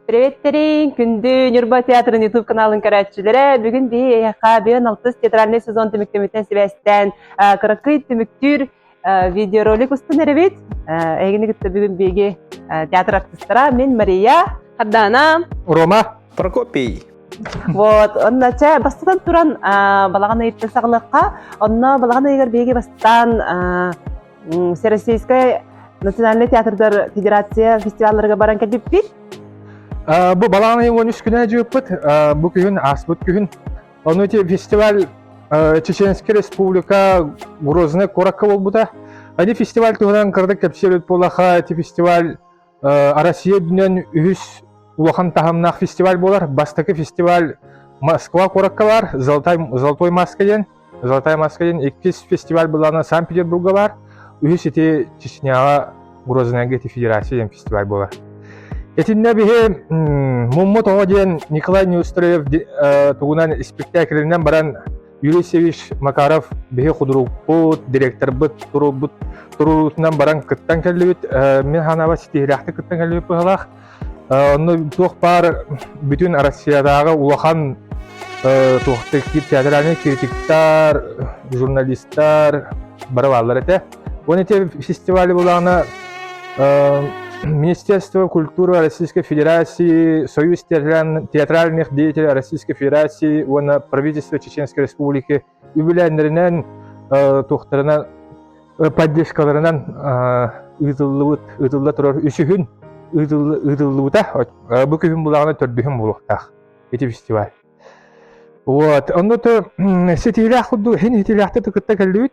Привет-тэрин! Күндү Ньурба театрын YouTube каналын көрөөччүлэрэ! Бүгүн биһи эһиэхэ бүгүн алтыс театральнай сезон түмүктэммитинэн сибээстээн кыракый түмүктүүр видеоролик устун эрэбит. Эһигини кытта бүгүн биһиги театр артыстара мен Мария Хардана Рома Прокопий Вот, онна чэ, бастатан туран балаҕан ыйыттан саҕалыахха. Онно балаҕан ыйыгар биһиги бастаан Всероссийскай национальнай театрдар федерация фестивалларга баран кэлбиппит. Бу балаҕан айын 13 күнэ дьыыппыт бу күһүн ааспыт күһүн. Ону те фестиваль Чеченская Республика Грозный куоракка болбута. Ани фестиваль туһунан кырдык кэпсиэбит буолаха, эти фестиваль Россия үрдүнэн үһүс улахан таһымнаах фестиваль буолар. Бастакы фестиваль Москва куоракка баар, Золотой, Золотой Москва диэн. Золотая Москва диэн иккис фестиваль былаана Санкт-Петербурга баар. Үһүс ити Чечняҕа Грознайга ити федерация диэн фестиваль буолар. Итиннэ биһи Муммут оҕо диэн Николай Неустроев тугунан спектаклинен баран Юрий Севич Макаров биһи худурууппут, директорбыт туруурбут туруутунан баран кыттан кэллибит. Мин ханаба ситиһилээхтик кыттан кэллибит быһалаах. Онно туох баар бүтүн Россиядааҕы улахан туохтар киир театральный критиктар, журналистар бары бааллар этэ. Вон эти фестивали булаана Министерство культуры Российской Федерации, Союз театральных деятелей Российской Федерации уонна правительство Чеченской Республики үбүлээннэринэн тухтарынан поддержкаларынан ыытыллыбыт ыытылла турар үсүһүн ыытыллыбыта бу күһүн булаана төрдүһүн булуохтаах ити фестиваль вот онно то ситиилээх курдук иһин итилээхтэ кытта кэллибит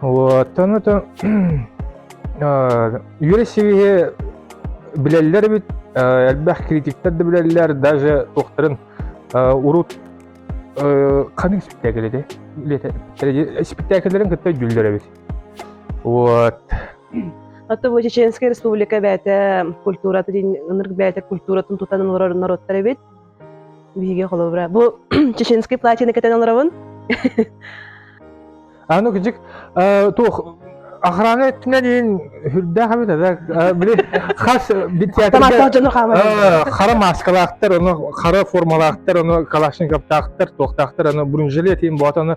Оттон отон үөрэ сивиһи билэллэр эбит, элбэх критиктер да билэллэр, даже туохтарын урут ханыг спектакль эти спектакльлерин кытта жүллөр эбит. Вот. Ата бу Чеченская Республика бэйэтэ культурата дин ынырг бэйэтэ культуратын тутан олорор норуттар эбит. Биһиги холобура бу чеченский платьены кэтэн олоробун. Аны кыдык туох охрана өттүнэн иин үрдээх эбит эбэ били хас театрда хара маскалаахтар ону хара формалаахтар ону калашниковтаахтар туохтаахтар ону бронежилет иин боот ону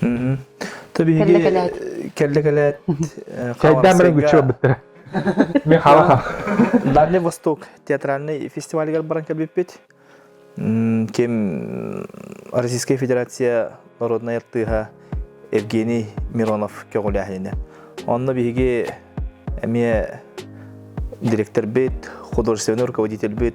то биһиги кэллэкэлээт хайдаамыран күччү барбыттара мен халаха дальний восток театральный фестивалигар баран кэлбиппит ким российская федерация народнай артыыһа евгений миронов көҕүлээһинэ онно биһиги эмиэ директорбыт художественный руководительбит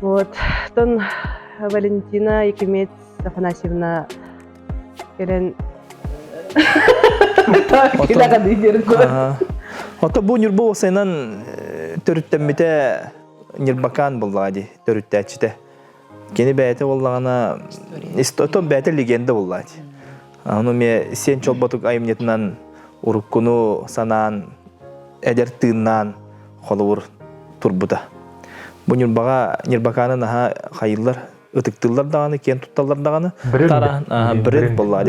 Вот. Оттон Валентина Якимец Афанасьевна кэлэн Ото бу Ньурба уосайынан төрүттэммите Ньырбакаан буллаҕа ди төрүттээччитэ. Кини бэйэтэ боллаҕына, ото бэйэтэ легенда буллаҕа ди. Аны эмиэ сиэн чолботук айымньытынан уруккуну санаан, эдэр тыыннаан холобур турбута. Бу Ньурбаҕа Ньурбакааны наһаа хайыллар, ытыктыыллар даҕаны, киэн тутталлар даҕаны. Бренд буолла.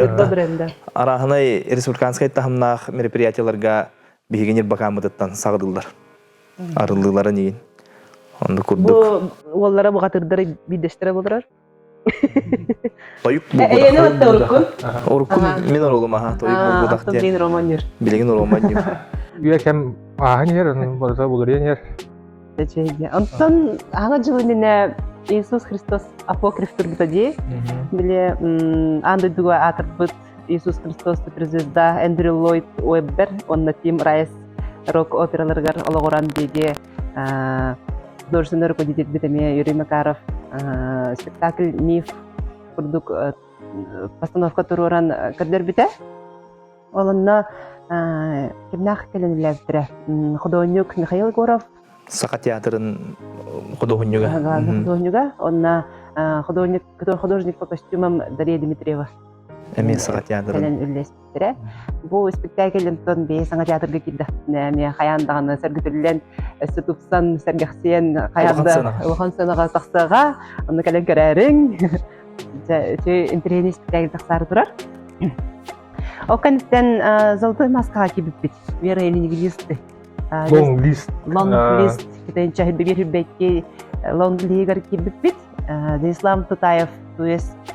Араһынай республиканскай таһымнаах мероприятиеларга биһиги Ньурбакааммытыттан саҕадыллар. Арыллыыларын игин. Онду курдук. Бу уоллара бухатырдары биирдэстэрэ болурар. Тойук булгутах. Уруккум мен орулум аха тойук булгутах диэн. Блин романнер. Билигин романнер. Үөкэм ааһан иһэр, барыта булуриан иһэр. Онтон аңа дьыл иннинэ Иисус Христос апокриф турбута дии. Биле аан дойдуга аатырпыт Иисус Христос звезда Эндрю Ллойд Уэббер онна Тим Райс рок операларыгар олоҕуран диэги художественнай руководительбит эмиэ Юрий Макаров спектакль миф курдук постановка туруоран көрдөрбүтэ. Ол онно кимнээх кэлэнилээбитэрэ худуоһунньук Михаил Егоров Саха театрын худуоһунньуга. Худуоһунньуга. Онно худуоһунньук художник по костюмам Дарья Дмитриева. Эмиэ Саха театрын. испиттэрэ. Бу испиктээкил онтон бэйи саҥа театрга киирдэхпинэ эмиэ хайаан даҕаны сөргүтүллэн, өссө тупсан, сэргэхсийэн хайаан да улахан сыанаҕа тахсаҕа, онно кэлэн көрөөрүҥ. Үчү интеллигентный испиктээкил тахсаары турар. Ол кэнниттэн золотой маскаҕа киирбиппит. Вера Ленинглисты. Лонглист. Лонглист китайын чаһырбегер үрбэкки лонглигар киирбиппит. Вячеслав Тутаев, то есть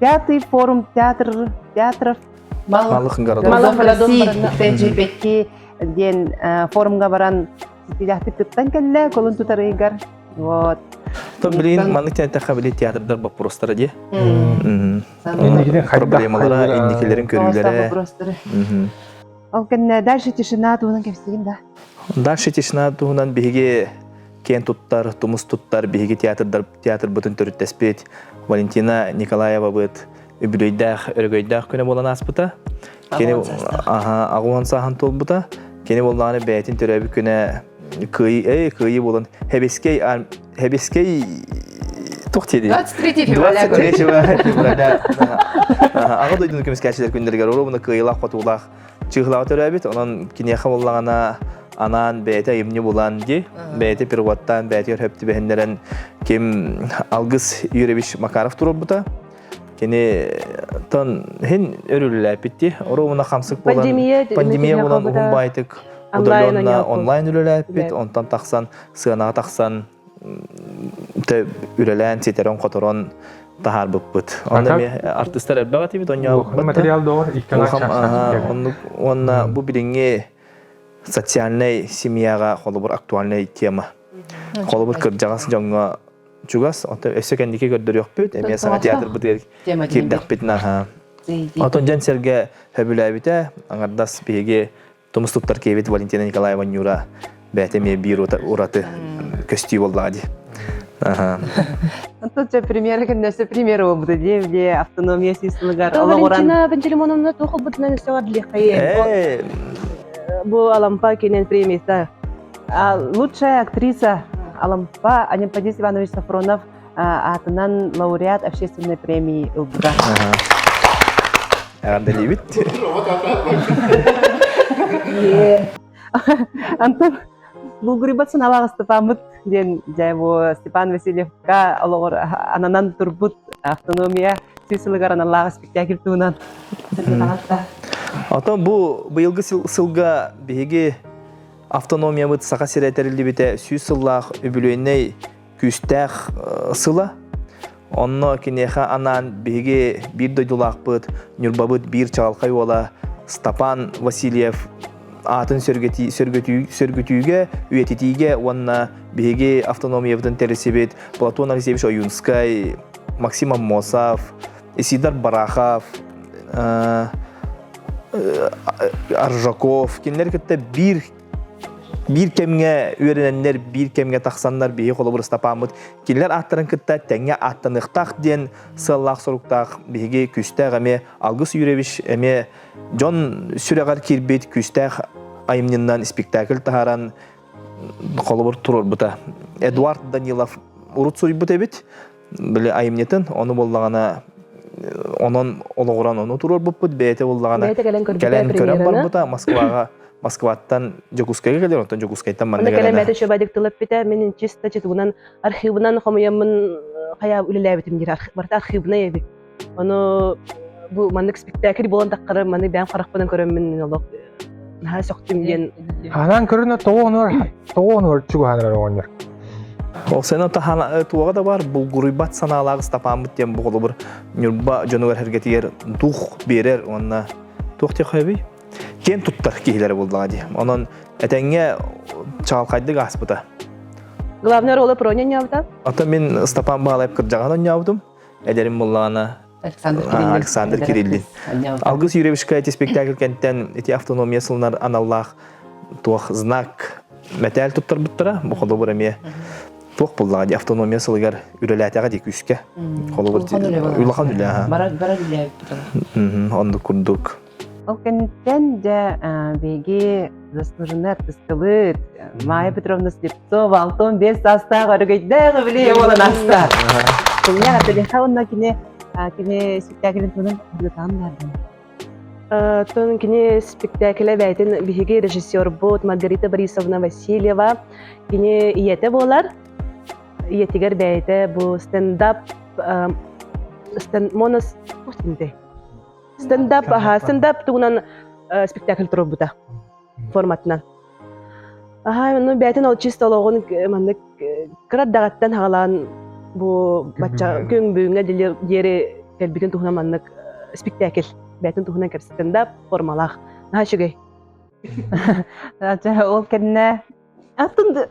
Пятый форум театр театров Малых городов. Малых городов Тэйдьиибэкки диэн форумга баран ситиилэхтик кыттан кэллэ колун тутарыгар вот то блин маннык тянтахха били театрдар боппуруостара дии инникитин проблемалара инникилерин көрүүлэрэ ол кэннэ дальше тишина туһунан кэпсиигин да дальше тишина туһунан биһиги киэн туттар, тумус туттар биһиги театрдар, театрбытын төрүттэспит Валентина Николаевабыт үбүлүөйдээх, өрөгөйдөөх күнэ буолан ааспыта. Кини аҕуон сааһын туолбута. Кини буоллаҕына бэйэтин төрөөбүт күнэ кыайыы, эй, кыайыы буолан Хебискей, Хебискей туох диedi? 23 февраля. 23 февраля. Аҕа дойдуну көмүскээччилэр күннэригэр оруобуна кыайыылаах-хотуулаах чыыһылаҕа төрөөбүт онон киниэхэ буоллаҕына анаан бэйэтэ айымньы булан ди бэйэтэ переводтаан бэйэтигэр хөп түбэһиннэрэн ким алгыс юрьевич макаров турурбута кини тон хин өрүллээпитти оруобуна хамсык болан пандемия булан уһун байтык удалённа онлайн үлэлээппит онтон тахсан сыанаҕа тахсан үлэлээн ситэрэн-хоторон таһаарбыппыт. Онно эмиэ артыстар элбэх этибит, онньообуппут. Материал доҕор Оннук уонна бу билиҥҥи социальнай семьяҕа холобур актуальнай тема. Холобур кырдьаҕас дьоҥҥо чугас, оттон өссө кэнники көрдөрүөхпүт, эмиэ саҥа театрбытыгар киирдэхпит наһаа. Оттон дьон сэргэ сөбүлээбитэ, аҥардас биһиги Тумус туттар киэбит Валентина Николаева Нюра бэйэтэ эмиэ биир ураты көстүү буоллаҕа дии. Онтон премьера күннэсэ премьера буолбута дии где автономия сыылыгар Валентина Пантелеймоновна туох ылбытынан өссө бардыаххайы бу Алампа кинен премиясы лучшая актриса Алампа Анемподис Иванович Сафронов аатынан лауреат общественной премии ылбыта. Эҕэрдэлиибит. Антон Булгурибат саналаах Степаммыт диэн дьэ бу Степан Васильевка олоҕор ананан турбут автономия сис сылыгар аналлаах спектакль туһунан Оттон бу быйылгы сылга биһиги автономиябыт Саха сирэ тэриллибитэ сүүс сыллаах үбүлүөйнэй күүстээх сыла. Онно киниэхэ анаан биһиги биир дойдулаахпыт, Ньурбабыт биир чаҕылхай уола Стапан Васильев аатын сөргүтүү, сөргүтүү, сөргүтүүгэ, үйэтитиигэ уонна биһиги автономиябытын тэрилсибит Платон Алексеевич Оюнскай, Максим Аммосов, Исидар Барахов, Аржаков кинилэри кытта биир биир кэмҥэ үөрэнэннэр, биир кэмҥэ тахсаннар биһиги холобур Ыстапааммыт кинилэр ааттарын кытта тэҥҥэ ааттаныахтаах диэн сыаллаах-соруктаах биһиги Күүстээх эмиэ Алгыс Юрьевич эмиэ дьон сүрэҕэр киирбит Күүстээх айымньыннан спектакль таһааран холобур туруорбута. Эдуард Данилов урут суруйбут эбит. Били айымньытын, ону буллаҕына онон олоҕуран ону туруорбуппут бэйэтэ буллаҕына кэлэн көрөн барбыта Москваҕа Москваттан Дьокуускайга кэлэр оттон Дьокуускайтан манна кэлэн кэлэмэти чөбө дыктылаппыта мин чисто читубунан архивынан хомуйаммын хайа үлэлээбитим диир барыта архивнай эбит Ону бу маннык спектакль буолан таххара маны бэйэм харахпынан көрөммүн мин олох наһаа сөхтүм диэн Анаан көрүнэ тоҕуонугар тоҕуонугар чугаһанар оҕонньор. Ол сен таһана туоға да бар булгуруйбат санаалаах стапаммыт диэн боҕолобур Ньурба дьонугар эргэтигэр дух берер уонна туох техөбүй? Киэн туттар киһилэрэ буллаҕа дии. Онон этэҥҥэ чаалхайдык ааспыта. Главный ролы про не ньаабыта. Ата мин Стапан Баалаев кырдьаҕан онньообутум. Эдэрим буллаҕына Александр Кириллин. Алгыс Юрьевичка ити спектакль кэнтэн ити автономия сылынар аналлаах туох знак мэтээл туттарбыттара, бу холобур эмиэ туох буллаҕа ди автономия сылыгар үлэлээтэҕэ ди күүскэ. Холобур улахан үлэ аха. Барар үлэ оннук курдук. Ол кэнниттэн дьэ биһиги заслуженный артыскабыт Майя Петровна Слепцова алтан биэс саастаах өрөгөйдөөх үбүлүйэ буолан ааста. Күннэ атыриха уонна кини кини спектаклин тонун бөлүкаан баардым. Тон кини спектакле бэйтин биһиги режиссербут Маргарита Борисовна Васильева кини ийете буолар. Ийетигер бэйте бу стендап стенд монос стендап стендап тугунан спектакль турбута форматынан аһаай ну бээтин ол чист олоҕун маннык кырат даҕаттан хагалаан бу бачча күн бүгүҥҥэ диэри кэлбитин туһунан маннык спектакль бээтин туһунан кэпсэттим да формалаах наһаа үчүгэй ол кэннэ Атын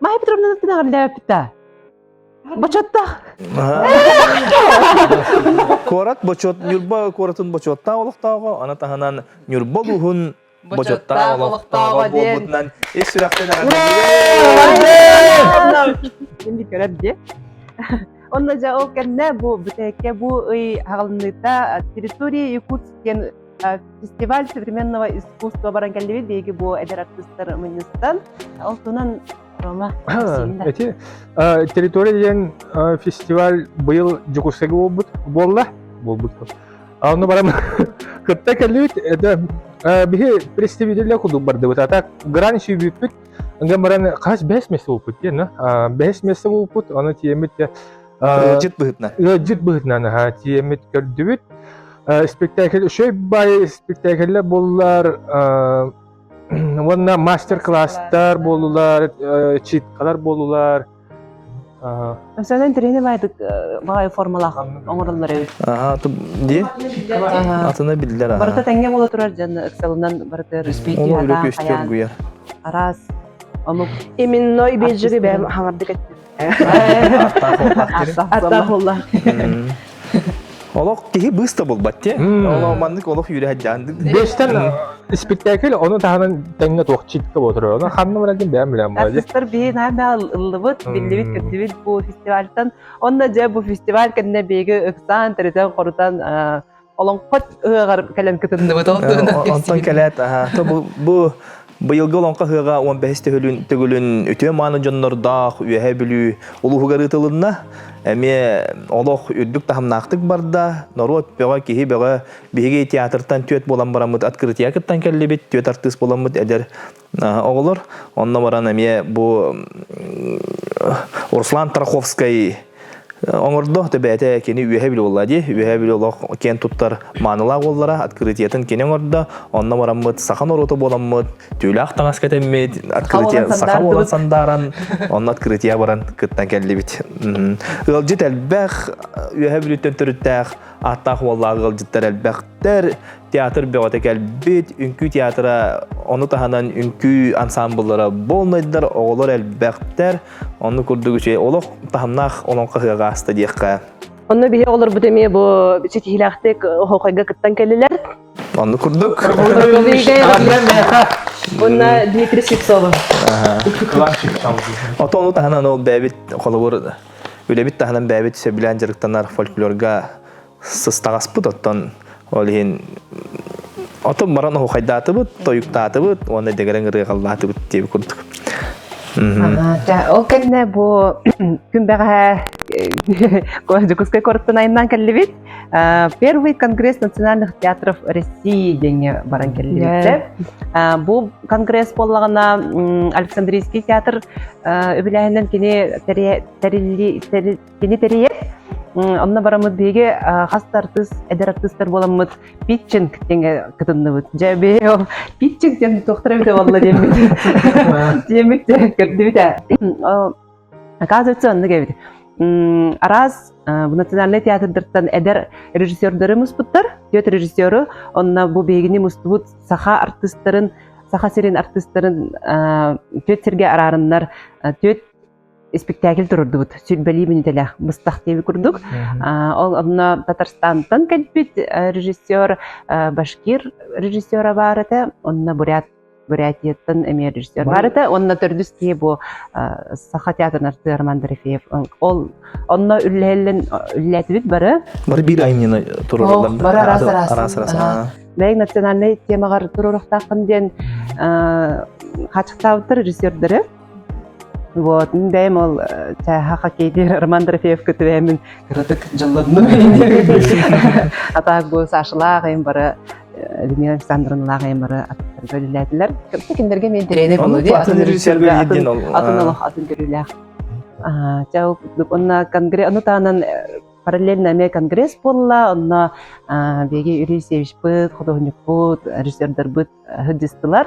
Майя Петровна ты наглядаа. Бочуоттаах. Куорат бочуот Ньурба куоратын бочуоттаах олохтооҕо, аны таһынан Ньурба улууһун бочуоттаах олохтооҕо буолбутунан ис сүрэхтэн Онно жа ол кэннэ бу бүтээкке бу ый хаҕылыныыта территория Якутск диэн фестиваль современного искусства баран кэллибит биһиги бу эдэр артыыстар мунньустан ол туһунан Рома эти территория диэн фестиваль быйыл Дьокусайга буолбут буолла буолбут ону барам кытта кэллибит это биһи представителя кудук бардыбыт атак гран сүйбүппүт анган баран хас бэс месте буолпут диэн бэс месте буолпут ону тиэмит Ыалдьыт быһыытынан. Ыалдьыт быһыытынан аһа тиэмит көрдүбүт. Спектакль үчүгэй бай спектакльлэр буллар уонна мастер-класстар буоллулар, читкалар буоллулар. Социальный тренер баайдык баҕай формалаах оҥороллор эбит. Аха, дии? Атына биллер. Барыта тэҥҥэ буола турар дьон ыксалынан барытыгар үспийтии Ол үрүк үстөр гуйар. Араас омук. Именной бежерибэм хаҥардык Аттаах уллаах диэн. Аттаах уллаах. Олох киһи быыс да булбат те. Олох маннык олох үрэһэдьээн. Бэстен спектакль ону таһынан тэҥҥэ туох чикка отырıyor. Оны ханна бырагын бэйэм билем болады. Артистар биһин аймал ыллыбыт, биллибит, кэттибит бу фестивальтан. Онна дьэ бу фестиваль кэннэ биһиги ыксаан, тэритэн, хорутан Олоҥхо ыһыаҕар кэлэн кытынныбыт. Онтон кэлээт, бу бу Быйылгы Олоҥхо ыһыаҕа 15 төгүлүн төгүлүн үтүө мааны дьоннордоох Үөһээ Бүлүү улууһугар ыытылынна. Эмиэ олох үрдүк таһымнаахтык барда. Норуот бөҕө, киһи бөҕө биһиги театртан түөрт буолан бараммыт открытия кыттан кэллибит. Түөрт артыыс буоламмыт эдэр Оҕолор онно баран эмиэ бу Руслан Тараховскай оҥордо, то бэйэтэ кини үөһэ билэ буолла дии, үөһэ билэ олох киэн туттар маанылаах уоллара, открытиятын кини оҥордо, онно бараммыт саха норуота буоламмыт, түүлээх таҥас кэтэммит, открытия саха буолан сандааран, онно открытия баран кыттан кэллибит. Ыалдьыт элбэх, үөһэ бүлүттэн төрүттээх, ааттаах уоллаах ыалдьыттар элбэх театр бөҕөтө кэлбит үҥкүү театра ону таһынан үҥкүү ансаамбыллара болнайдар оҕолор элбэхтэр онну курдук үчүгэй олох таһымнаах олоҥхо ыһыаҕа ааста диэххэ онно биһи олорбут эмиэ бу ситиһиилээхтик оһохойго кыттан кэллилэр онну курдук онно дмитрий сипцова ото ону таһынан ол бэйэбит холобур үлэбит таһынан бэйэбит сөбүлээн дьарыктанар фольклорга сыстаҕаспыт оттон ол иһин отон баран оһухайдаатыбыт тойуктаатыбыт уонна дэгэрэн ырыаҕаллаатыбыт диэби курдук ол кэннэ бу күн бэҕэһээ Дьокуускай куораттан айаннаан кэллибит. Первый конгресс национальных театров России диэҥҥэ баран кэллибиттэр. Бу конгресс буоллаҕына Александрийский театр үбүлээһининэн кини тэриллии Кини тэрийэр. Онно бараммыт биһиги хас да артыыс, эдэр артыыстар буоламмыт питчинг диэҥҥэ кытынныбыт. Дьэ, биһиги питчинг диэн туохтара эбитэ буолла диэммит. Диэммит көрдүбүт ээ. Оказывается, оннук эбит. Араас национальнай театрдартан эдэр режиссердары муспуттар. Түөт режиссеру, онно бу биһигини мустубут саха артыыстарын, Саха сирин артыыстарын түөт сиргэ араарыннар, түөт испэктээкил турурдубут сүрбэлии мүнүтэлээх быстах диэби курдук ол онно татарстантан кэлбит режиссер башкир режиссера баар этэ онно бурят бурятияттан эмиэ режиссер бар этэ онно төрдүс киһи бу саха театрын артыыр мандарафеев ол онно үллэһиллэн үллээтибит бары бары биир айымньыны турураллар бары араас араас араас бэйин национальнай темаҕар туруорахтаахпын диэн хааччахтаабыттар режиссердары Вот, бэйэм ол чааһа хоккейдиир Роман Дорофеевка түбэһэммин кыратык дьалладым атаак бу Сашалаах айым бары Людмила Александровналаах айым бары аттарга үлэлээтилэр. Кэмсе кинилэрге мен тренер болуди атын режиссерга атын олох атын көрүүлээх. Чау онна конгресс ону таанан параллельно эмиэ конгресс буолла онно биги Юрий Севичпыт художникпут режиссердарбыт ыһдыстылар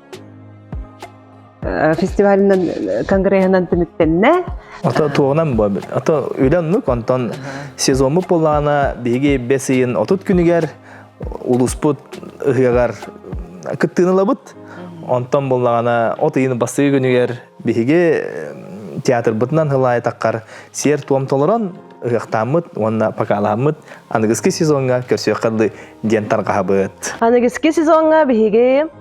фестивалынан конгреһынан түмүктэннэ ото туонан бу ото үлэннук онтон сезоммут булаана биһиги бэс ыйын отут күнүгэр улууспут ыһыаҕар кыттыынылабыт онтон буллаҕына от ыйын бастыгы күнүгэр биһиги театрбытынан хылаайтаккар сиэр-туом толорон ыһыахтааммыт уонна покаалааммыт аныгыскы сезоҥҥа көрсүөххэ диэн тарҕаһабыт аныгыскы сезоҥҥа биһиги